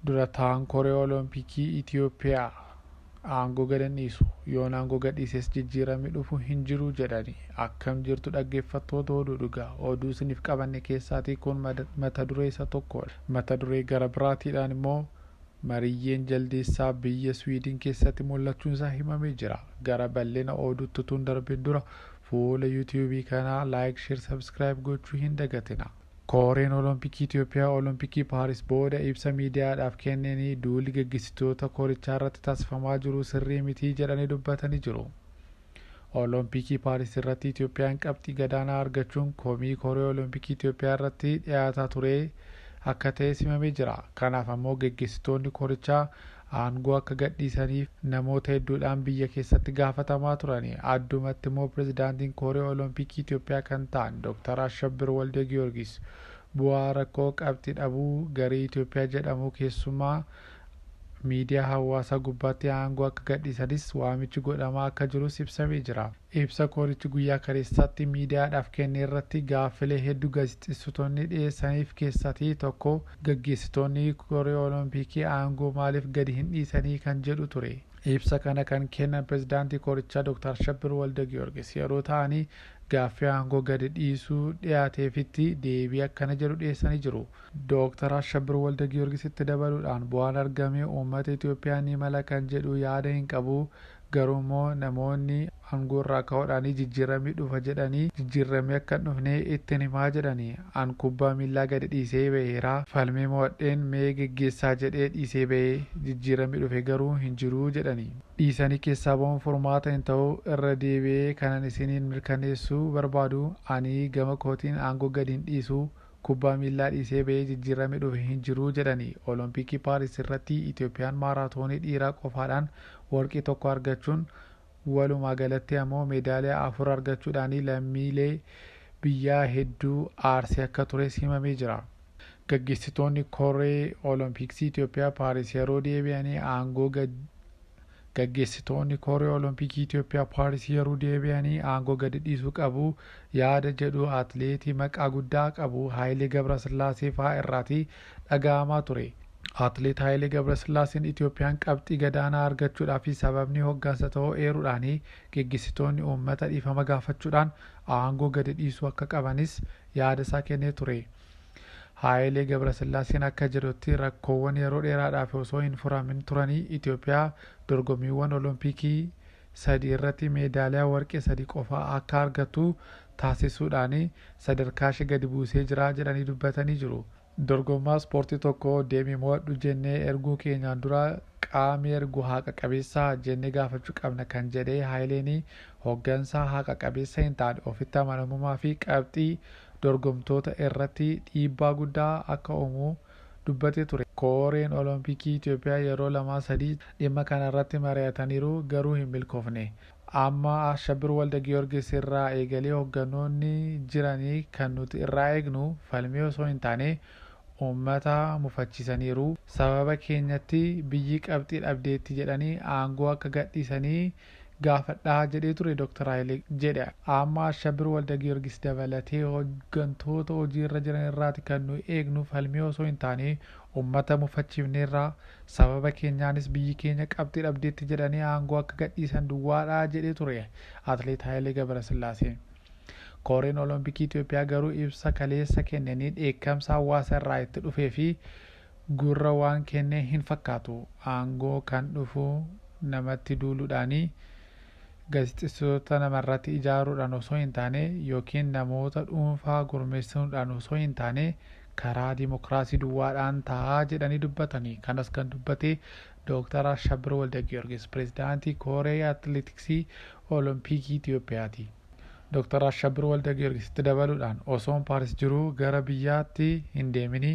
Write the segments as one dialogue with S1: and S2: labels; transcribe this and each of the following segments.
S1: Dura taa'aan Koree Olompikii Itiyoophiyaa aangoo gad hin dhiisu, yoon aangoo gad dhiises jijjiirami dhufu hin jiru jedhani. Akkam jirtu dhaggeeffattoota Oduu Dhugaa. Oduu isiniif qabanne keessaatii kun mata duree isa tokkoodha. Mata duree gara biraatiidhaan immoo Mariyyeen Jaldeessaa biyya Swiidin keessatti mul'achuun isaa himamee jira. Gara bal'ina oduutti utuun darbin dura fuula YouTube kanaa like, share, subscribe gochuu hin dagatina. Koreen Olompikii Itiyoophiyaa Olompikii Paaris booda ibsa miidiyaadhaaf kenneni duulli geggeessitoota korichaarratti taasifamaa jiru sirrii miti jedhanii dubbatanii jiru. Olompikii Paaris irratti Itiyoophiyaan qabxii gadaanaa argachuun komii Koree Olompikii Itiyoophiyaa irratti dhiyaataa turee akka ta'es himamee jira. Kanaaf ammoo geggeessitoonni korichaa aangoo akka gadhiisaniif namoota hedduudhaan biyya keessatti gaafatamaa turani. Addumatti immoo Pirezidaantiin Kooree Olompikii Itoophiyaa kan ta'an Doktar Ashabbir Waldegiyoorgis bu'aa rakkoo qabxi dhabuu garee Itoophiyaa jedhamuu keessumaa miidiyaa hawaasaa gubbaatti aangoo akka gadhiisanis waamichi godhamaa akka jirus ibsamee jira. Ibsa koorichi guyyaa kaleessaatti miidiyaadhaaf kenne irratti gaaffilee heddu gaazexeessitoonni dhiyeessaniif keessati tokko gaggeessitoonni koree Olompikii aangoo maaliif gadi hin dhiisanii kan jedhu ture. Ibsa kana kan kennan pirezidaantii korichaa Dr. Ashabbir Waldagiyoorgis yeroo ta'ani gaaffii aangoo gadi dhiisuu dhiyaateefitti deebii akkana jedhu dhiyeessanii jiru. Dr. Ashabbir Waldagiyoorgis itti dabaluudhaan bu'aan argame uummata Itoophiyaa ni mala kan jedhu yaada hin qabu, Garuummoo namoonni angoorraa ka'uudhaanii jijjiirramni dhufa jedhanii jijjiirramni akka hin dhufne ittin himaa jedhani. An kubbaa miillaa gadi dhiisee baheera. Falmee mo'adheen mee geggeessaa jedhee dhiisee bahe. Jijjiirramni dhufe garuu hin jiru jedhani. Dhiisanii keessaa bahuun furmaata hin ta'u. Irra deebi'ee kanan isiniin mirkaneessuu barbaadu ani gama kootiin aangoo gadi hin dhiisu. kubbaa miillaa dhiisee ba'ee jijjiirrame dhufe hin jiru jedhani. Olompikii Paaris irratti Itoophiyaan maaraatoonii dhiiraa qofaadhaan warqii tokko argachuun walumaa galatti ammoo meedaaliyaa afur argachuudhaani lammiilee biyyaa hedduu aarsee akka tures himamee jira. Gaggeessitoonni koree Olompiksii Itoophiyaa Paaris yeroo deebi'anii aangoo gad Gaggeessitoonni Koree Olompikii Itoophiyaa Paaris yeruu deebi'anii aangoo gadi dhiisuu qabu yaada jedhu atileetii maqaa guddaa qabu Hayilee Gabrasillaasee fa'aa irraati dhaga'amaa ture. Atileet Hayilee Gabrasillaaseen Itoophiyaan qabxii gadaanaa argachuudhaafi sababni hoggansa ta'uu eeruudhaan geggeessitoonni uummata dhiifama gaafachuudhaan aangoo gadi dhiisuu akka qabanis yaada isaa kennee ture. Haayilee Gabrasillaaseen akka jedhutti rakkoowwan yeroo dheeraadhaaf osoo hin furamin turanii Itoophiyaa dorgommiiwwan Olompikii sadi irratti meedaaliyaa warqee sadi qofa akka argattu taasisuudhaan sadarkaashee gadi buusee jira jedhanii dubbatanii jiru. Dorgomaa ispoortii tokko deemii mo'adhu jennee erguu keenyaan dura qaami ergu haqa qabeessaa? jennee gaafachuu qabna kan jedhe Haayileen, hoggansa haqa qabeessa hin taane, ofitti amanamummaa fi qabxii dorgomtoota irratti dhiibbaa guddaa akka uumu dubbatee ture. Koreen Olompikii Itoophiyaa yeroo lamaa sadii dhimma kana irratti mari'ataniiru, garuu hin milkoofne. Amma Ashabbir Waldagiyoorgis irraa eegalee hoggannoonni jirani kan nuti irraa eegnu falmii osoo hin taane uummata mufachiisaniiru. Sababa keenyatti biyyi qabxii dhabdeetti jedhanii aangoo akka gadhiisanii gaafadha jedhee ture Dr. Hayilee jedhe. Amma Ashabbir Waldagiyorgis dabalatee hoggantoota hojii irra jiran irraati kan nuyi eegnu falmii osoo hin taane ummata mufachiifneerra, sababa keenyaanis biyyi keenya qabxii dhabdeetti jedhanii aangoo akka gadhiisan duwwaadha jedhee ture Atleet Hayilee Gabrasillaaseen. Koreen Olompikii Itoophiyaa garuu ibsa kaleessa kenneniin dheekkamsa hawaasa irraa itti dhufee fi Gurra waan kenne hin fakkaatu. Aangoo kan dhufu namatti duuludhaani, gazexessitoota namarratti ijaaruudhaan osoo hin taane ykn namoota dhuunfaa gurmeessuundhaan osoo hin taane karaa dimokraasii duwwaadhaan ta'a jedhanii dubbatani. Kanas kan dubbate Dooktar Ashabbir Waldagiyoorgis, Pireezidaantii Koree Atileetiksii Olompikii Itoophiyaati. Doktar Ashabbir Waldagiyoorgis itti dabaluudhaan, osoon Paaris jiruu gara biyyaatti hin deeminii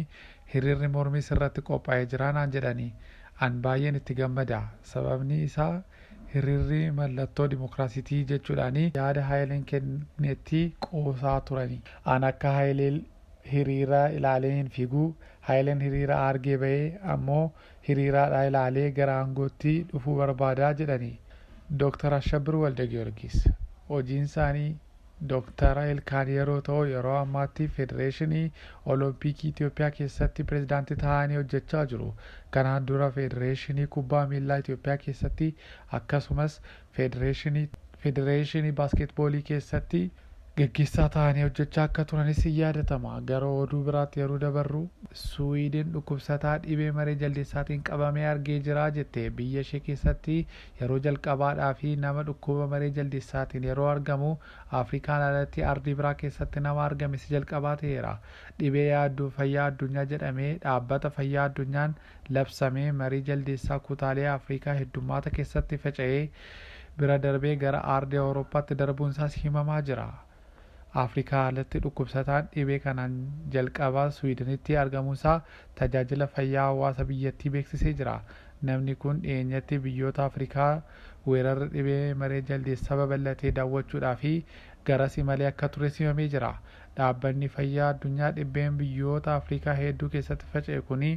S1: hiriirri mormii sirratti qophaa'ee jira naan jedhanii. An baay'een itti gammada. Sababni isaa hiriirri mallattoo dimokiraasiitii jechuudhaanii yaada Hayileen kennetti qoosaa turani. An akka Hayileel hiriira ilaalee hin fiigu. Hayileen hiriira aargee ba'ee ammoo hiriiraadhaa ilaalee gara aangootti dhufuu barbaada jedhani Dr. Ashabbir Waldagiyorgis. Hojiinsaanii Dr. Ilkaan yeroo ta'u yeroo ammaatti Federeeshinii Olompikii Itoophiyaa keessatti pirezidaantii ta'anii hojjechaa jiru. Kanaan dura Federeeshinii Kubbaa Miillaa Itoophiyaa keessatti akkasumas Federeeshinii Baaskeetboolii keessatti gaggeessaa ta'anii hojjechaa akka turanis ni yaadatama. Gara oduu biraatti yeroo dabarru, Suwiidin dhukkubsataa dhibee maree jaldeessaatiin qabamee argee jira jette. Biyya ishee keessatti yeroo jalqabaadhaaf nama dhukkuba maree jaldeessaatiin yeroo argamu, Afrikaan alatti ardii biraa keessatti nama argame isa jalqabaa ta'eera. Dhibee yaaddoo fayyaa addunyaa jedhamee Dhaabbata Fayyaa Addunyaan labsamee marii jaldeessaa kutaalee Afrikaa heddummaata keessatti faca'ee bira darbee gara aardii Awurooppaatti darbuun isaas himamaa jira. Afrikaa alatti dhukkubsataan dhibee kanaan jalqaba Swiidenitti argamuu isaa tajaajila fayyaa hawaasa biyyattii beeksisee jira. Namni kun dhiyeenyatti biyyoota Afrikaa weerarri dhibee maree jaldeessaa babal'atee daawwachuudhaafi garas imalee akka tures himamee jira. Dhaabbanni Fayyaa Addunyaa dhibbeen biyyoota Afrikaa heedduu keessatti faca'e kuni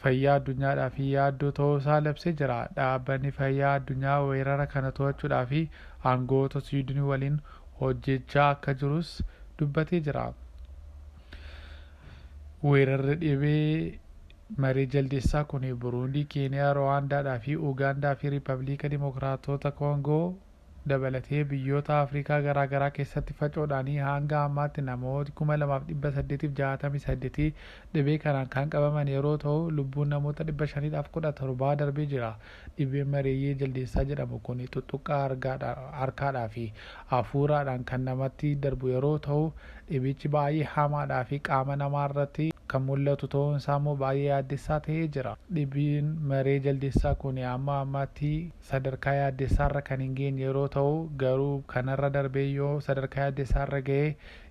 S1: fayyaa addunyaadhaaf yaaddoo ta'uu isaa labsee jira. Dhaabbanni Fayyaa Addunyaa weerara kana to'achuudhaaf aangawoota Siwiidinii waliin hojjechaa akka jirus dubbatee jira. Weerarri dhibee maree jaldeessaa kuni Buruundii, Keeniyaa, Ruwaandaadhaa fi Ugaandaa fi Riippabliika Dimokiraatota Koongoo dabalatee biyyoota Afrikaa garaa garaa keessatti facoodhaanii haanga ammaatti namooti 2,868 dhibee kanaan kan qabaman yeroo ta'u lubbuun namoota 517 darbee jira. Dhibeen mareeyyee jaldeessaa jedhamu kun xuxxuqqaa harkaadhaa fi afuuraadhaan kan namatti darbu yeroo ta'u dhibichi baay'ee hamaadhaa fi qaama namaa irratti kan mul'atu ta'uun isaa immoo baay'ee yaaddessaa ta'ee jira. Dhibeen maree jaldeessaa kun amma ammaatti. sadarkaa yaaddessaarra kan hin geenye yeroo ta'u, garuu kanarra darbee yoo sadarkaa yaaddessaarra ga'e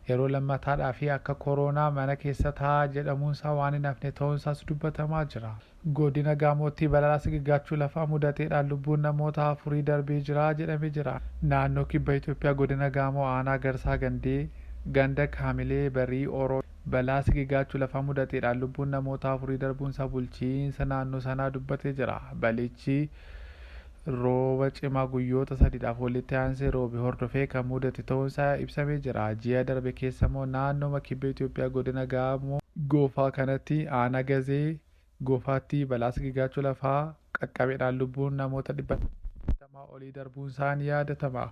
S1: yeroo lammataadhaaf akka koroonaa mana keessa taa'aa jedhamuunsaa waan hin hafne ta'uunsaas dubbatamaa jira. Godina Gaamootti balaa sigigaachuu lafaa mudateedhaan lubbuun namoota afurii darbee jira jedhame jira. Naannoo Kibba Itoophiyaa Godina Gaamoo Aanaa Garsaa Gandee ganda Kaamilee Barii Oroo balaa sigigaachuu lafaa mudateedhaan lubbuun namoota afurii darbuunsaa bulchiinsa naannoo sanaa dubbatee jira. Balichi. Rooba cimaa guyyoota sadiidhaaf walitti aansee roobe hordofee kan mudate ta'uun isaa ibsamee jira. Ji'a darbe keessa immoo naannooma kibba Itoophiyaa godina Gaamoo. Goofaa kanatti aanaa Gazee Goofaatti balaa sigigaachuu lafaa qaqqabedhaan lubbuun namoota 280 olii darbuun isaa ni yaadatama.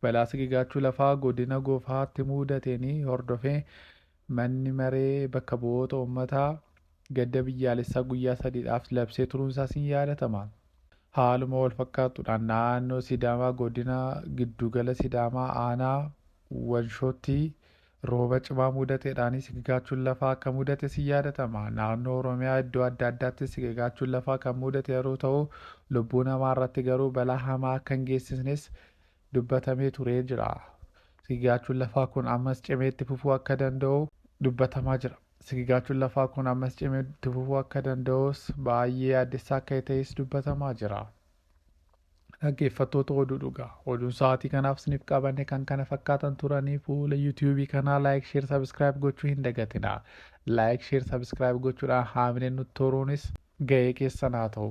S1: Balaa sigigaachuu lafaa godina Goofaatti mudateen hordofee Manni Maree Bakka Bu'oota Ummataa gadda biyyaalessaa guyyaa sadiidhaaf labsee turuunsaas ni yaadatama. Haaluma walfakkaattuudhaan naannoo Sidaamaa godina giddugala Sidaamaa aanaa Wanshootti rooba cimaa mudateedhaan sigigaachuun lafaa akka mudates ni yaadatama. Naannoo Oromiyaa iddoo adda addaattis sigigaachuun lafaa kan mudate yeroo ta'u, lubbuu namaarratti garuu balaa hamaa akka hin geessisnes dubbatamee turee jira. Sigigaachuun lafaa kun ammas cimee itti fufuu akka danda'u dubbatamaa jira. Sigigaachuun lafaa kun ammas cimee itti fufuu akka danda'us baay'ee yaaddessaa akka ta'es dubbatamaa jira. Dhaggeeffattoota oduu dhugaa. Oduun sa'aatii kanaaf isiniif qabanne kan kana fakkaatan turanii fuula yuutuubii kanaa laayik sheer sabiskiraayib gochuu hin dagatina. Laayik sheer sabiskiraayib gochuudhaan haamileen nutti horuunis ga'ee keessan haa ta'u.